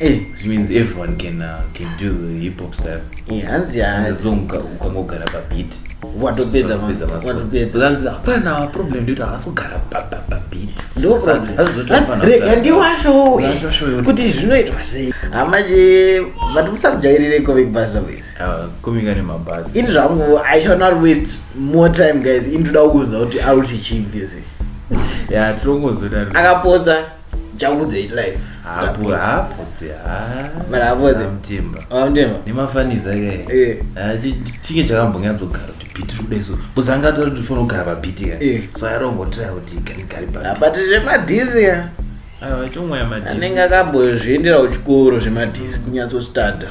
Eh, which means everyone can uh, can do the hip hop style eh, hanzi And as long uka- ukangogara pabeat Watopedza ma- Watopedza ma- watopedza. But hanzi hapana our problem ndikuti havasi kugara pa- pa- pabeat rega ndiwashowe Ndiwashowe. kuti zvinoitwa sei hama che vati musamujairire comic basa wese kumika nemabhazi ini zvangu i shall not waste more time guys ini toda kukuudza kuti arikuti chii music ya tinongozoda akapotsa Jambudze live. Hapo hapo tse. Ah. Bana hapo tse. Mtimba. Ah mtimba. Ni mafaniza ke. Eh. Ah chinge chakambonyazo gara kuti beat rude so. Kuzanga to to fona gara ba beat ka. Eh. So I don't go try kuti kani kari ba. Ah, but zve madizi ya. Ah chomwa ya madizi. Anenga kambo zviendera kuchikoro zve madizi kunyatso starter.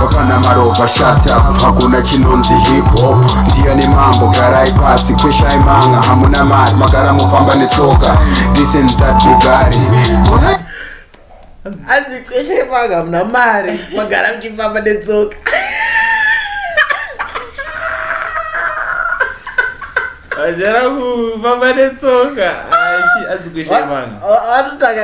hapana maropa shata hakuna chinonzi hip hop ndiyani mambo garai pasi kweshai manga hamuna mari magara mofamba netsoka this and that bugari hanzi kweshai manga hamuna mari magara muchifamba netsoka Vajara kufamba netsoka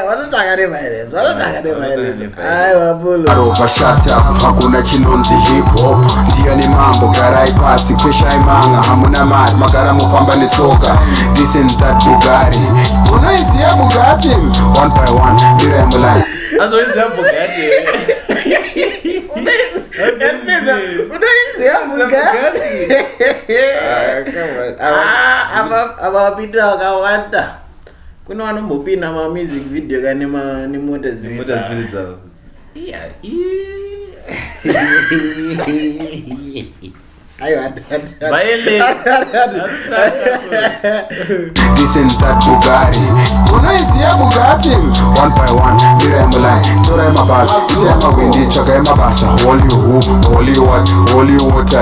vanotanga nemaerezo vanotanga nemaerezo aiwa bulo arova shata hakuna chinonzi hip hop ndiyani mambo garai pasi kweshai manga hamuna mari magara mofamba netsoka this and that bugari unoiziva bugati one by one mira yamulai azoiziva bugati avapindira vakawanda kune vanombopinda mamusic video ka nemota dziri dzavo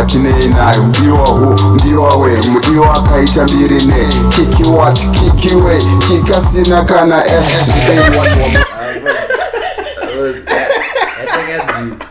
tinei nayo mudiwa hu mudiwa we mudiwa akaita mbiri ne kiki wat kiki we kikasina kana eh, eh, eh.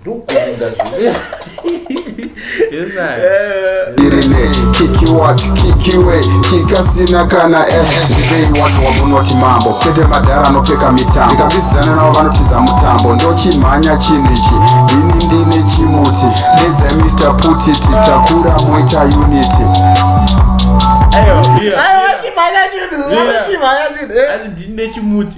ndokuenda kikasina kana eh, ndibei wacho wamunoti mambo kwete madhara anopfeka mitambo ndikavidzana navo vanotiza mutambo ndochimhanya chinhu ichi ini ndine chimuti dedzai mr putiti takura moita unity ndine chimuti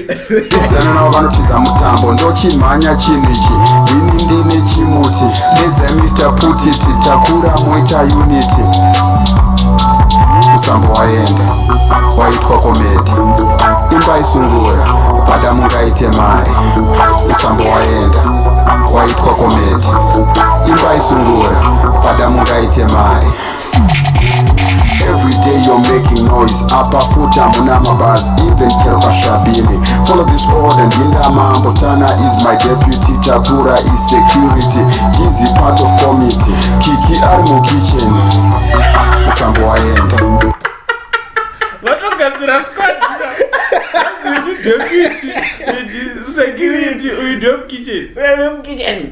Idzanana vanotiza mutambo ndochimhanya chinhu ichi ini ndine chimuti nedza Mr Putiti takura moita unity musambo waenda waitwa komedi imba isungura pada mungaite mari musambo waenda waitwa komedi imba isungura pada mungaite mari Every day you're making noise apa futi hamuna mabhazi even chero kashabini follow this order ndinda mambo stana is my deputy takura is security he's a part of committee kiki ari mukitchen musambo waenda vatogadzira squad deputy security uyu dom kitchen Wewe mkitchen.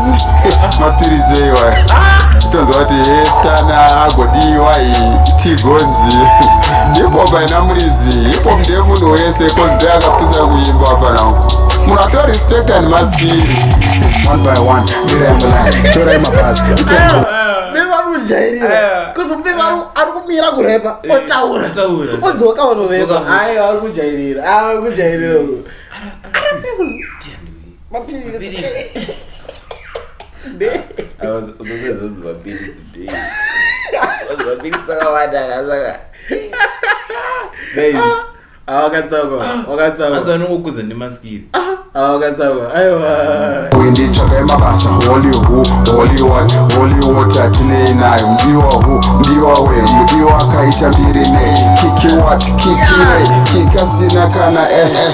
mapiritsi eiwa tonzwa kuti estana agodiwa tigonzi hipop haina muridzi hipop ndemunhu wese kozi be akapusa kuimba afana uku munhu ato respect and maspiri one by one mirai mulai torai mabhazi kujairira kuti mupfeka ari kumira kurepa otaura odzoka onorepa ayo ari kujairira ari kujairira mapiritsi unozozi mapiritsi day mapiritsi akawanda akasaka awakatsawaakatsawaanongokuza nemaskiri awakatsawa aiwa uinditsvaga yemabasa holy hu holy wat holy wat atinei nayo mdiwa hu mdiwa we mdiwa akaita mbiri nei kiki wat kiki re kikasina kana ehe eh, eh.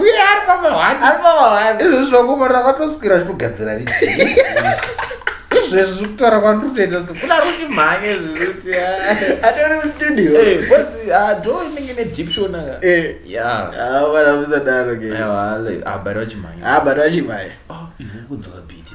uye ari pamahwani ari pamahwani izvi zvakumarira kwatoswira zvitogadzira ri izvezvi zvekutaura kwandiri kutoita so kuna ruti mhanye zvekuti atori mustudio bcause do inenge ne diption aka yavana musadaro ke abari vachimhanya abari vachimhanya kunzwa kabhiti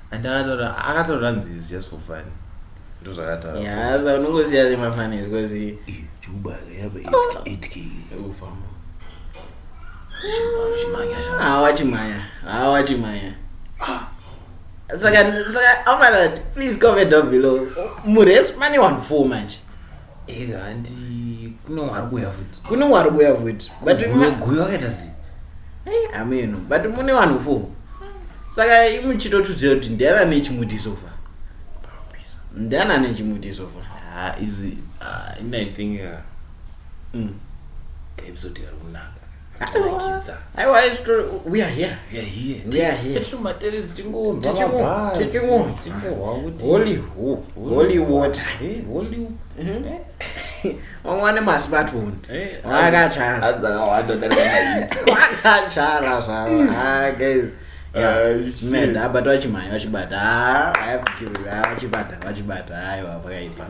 and akataura akataura nzizi just for fun ndozvakataura Yeah, saka unongosiya semafanisi because Eh, juba yaba 8k ufamo zvimanya zva hawa chimhaya hawa chimhaya saka saka amara please comment down below murespani wanhu four manje Ega handi kune wari kuuya futi. Kune wari kuuya futi. But guyo wakaita sei? Eh, ameno. But mune vanhu four. Saka imu chitotudzira kuti ndiani ane chimuti so far. Ndiani ane chimuti so far. Ah, izi ah, ini I think uh, mm. episode yari kunaka. wane masmartphone akatsvaraakatsvara zvavo abatwa vachimhanya vachibata vachibata vachibata aiwa pakaipa